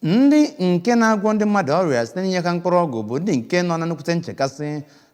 ndị nke na-agwọ ndị mmadụ ọrịa site n'inye ha mkpụrụ ọgwụ bụ ndị nke nọ na nnukwute nchekasị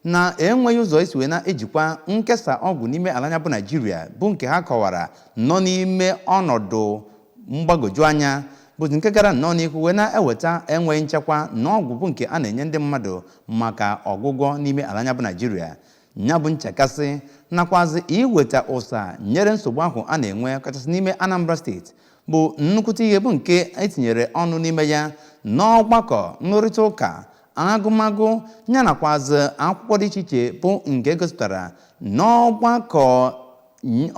na enweghị ụzọ esi wee na-ejikwa nkesa ọgwụ n'ime ala anyị a bụ naijiria bụ nke ha kọwara nọ n'ime ọnọdụ mgbagwoju anya bụ nke gara nnọọ n'ihu wee na-eweta enweghị nchekwa na ọgwụ bụ nke a na-enye ndị mmadụ maka ọgwụgwọ n'ime ala anyị a bụ naijiria ya bụ nchekasị nakwazi iweta ụsa nyere nsogbu ahụ a na-enwe kachasị n'ime Anambra steeti bụ nnukwute ihe bụ nke etinyere ọnụ n'ime ya n'ọgbakọ nrụrịta ụka agụmagụ ya nakwazi akwụkwọ dị iche iche bụ nke gosipụtara n'ọgbakọ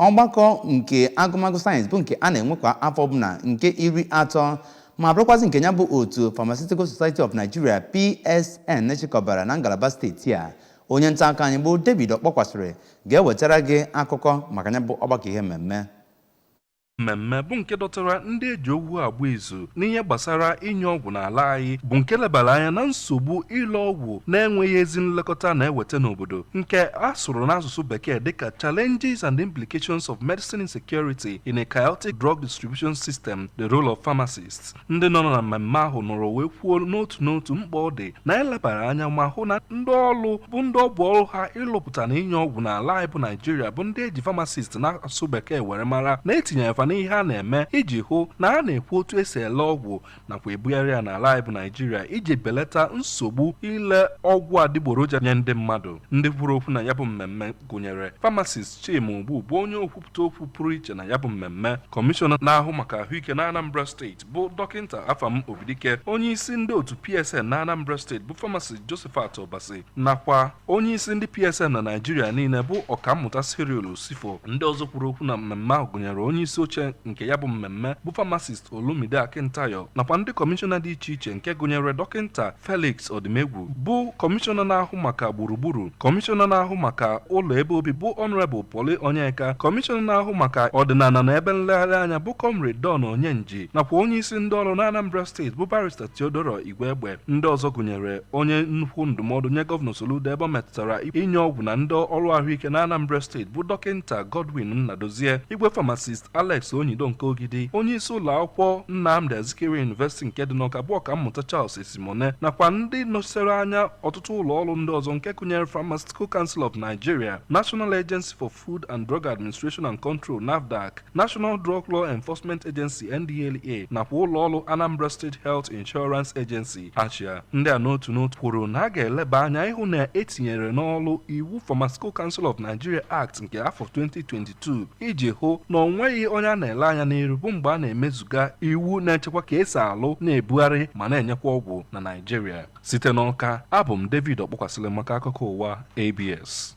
ọgbakọ nke agụmagụ sayensị bụ nke a na-enwe kwa afọ ọbụla nke iri atọ ma bụrụkwazị nke ya bụ otu Pharmaceutical Society of Nigeria PSN chịkọbara na ngalaba steeti a onye nta akụkọ anyị bụ David Okpokwasili ga-ewetara gị akụkọ maka ya bụ ọgbakọ ihe mmemme mmemme bụ nke dọtara ndị eji okwu agba izu n'ihe gbasara inye ọgwụ n'ala anyị bụ nke lebara anya na nsogbu ile ọgwụ na-enweghị ezi nlekọta na-eweta n'obodo nke a sụrụ n'asụsụ bekee dịka challenges and implications of medicine insecurity in a chaotic drug distribution system the role of pharmacists ndị nọ na mmemme ahụ nọrọ wee kwuo n'otu n'otu mkpa ọ dị na elebara anya ma hụ na ndị ọrụ bụ ndị ọ bụ ọrụ ha ịlụpụta na inye ọgwụ n'ala anyị bụ naijiria bụ ndị eji famasist n'asụsụ bekee were mara na etinyere fa n'ihe a na-eme iji hụ na a na-ekwu otu esi ele ọgwụ nakwa ebugharị ya n'ala anyị bụ naijiria iji belata nsogbu ile ọgwụ adịgboroja nye ndị mmadụ ndị kwuru okwu na ya bụ mmemme gụnyere famasist chima ogbu bụ onye okwu pụta okwu pụrụ iche na ya bụ mmemme kọmishọna na-ahụ maka ahụike na Anambra steeti bụ dọkịnta Afam Obidike onye isi ndị otu PSN na Anambra steeti bụ famasist Josephat Obasi nakwa onye isi ndị PSN na Naịjirịa niile bụ ọkammụta Cyril Usifoh ndị ọzọ kwuru okwu na mmemme ahụ gụnyere onye isi oche nke ya bụ mmemme bụ famasist Olumide Akintayo nakwa ndị kọmishọna dị iche iche nke gụnyere dọkịnta Felix Odimegwu bụ kọmishọna na-ahụ maka gburugburu kọmishọna na-ahụ maka ụlọ ebe obi bụ Honorable Pauly Onyeka kọmishọna na-ahụ maka ọdịnala na ebe nlegharị anya bụ Comrade Don Onyenji nakwa onye isi ndị ọrụ na Anambra steeti bụ barista Theodora Igwegbe ndị ọzọ gụnyere onye nnukwu ndụmọdụ nye gọvanọ Soludo ebe ọ metụtara inye ọgwụ na ndị ọrụ ahụike na Anambra steeti bụ dọkịnta Godwin Nnadozie igwe pharmacist Alex Onyido nke Ogidi onye isi ụlọ akwụkwọ Nnamdi Azikiwe University nke dị n'Ọka bụ ọkammụta Charles Esimone nakwa ndị nọchitere anya ọtụtụ ụlọ ọrụ ndị ọzọ nke gụnyere Pharmaceutical Council of Nigeria, National Agency for Food and Drug Administration and Control NAFDAC, National Drug Law Enforcement Agency NDLEA nakwa ụlọ ọrụ Anambra State Health Insurance Agency ASHIA. Ndị a n'otu n'otu kwuru na a ga-eleba anya ịhụ na etinyere n'ọrụ iwu Pharmaceutical Council of Nigeria Act nke afọ 2022 2022 iji hụ na o nweghị onye a na-ele anya n'iru bụ mgbe a na-emezuga iwu na-echekwa ka e si alụ na-ebugharị ma na-enyekwa ọgwụ na Naịjirịa site n'Ọka abụ m David Ọkpọkwasịlị maka akụkọ ụwa ABS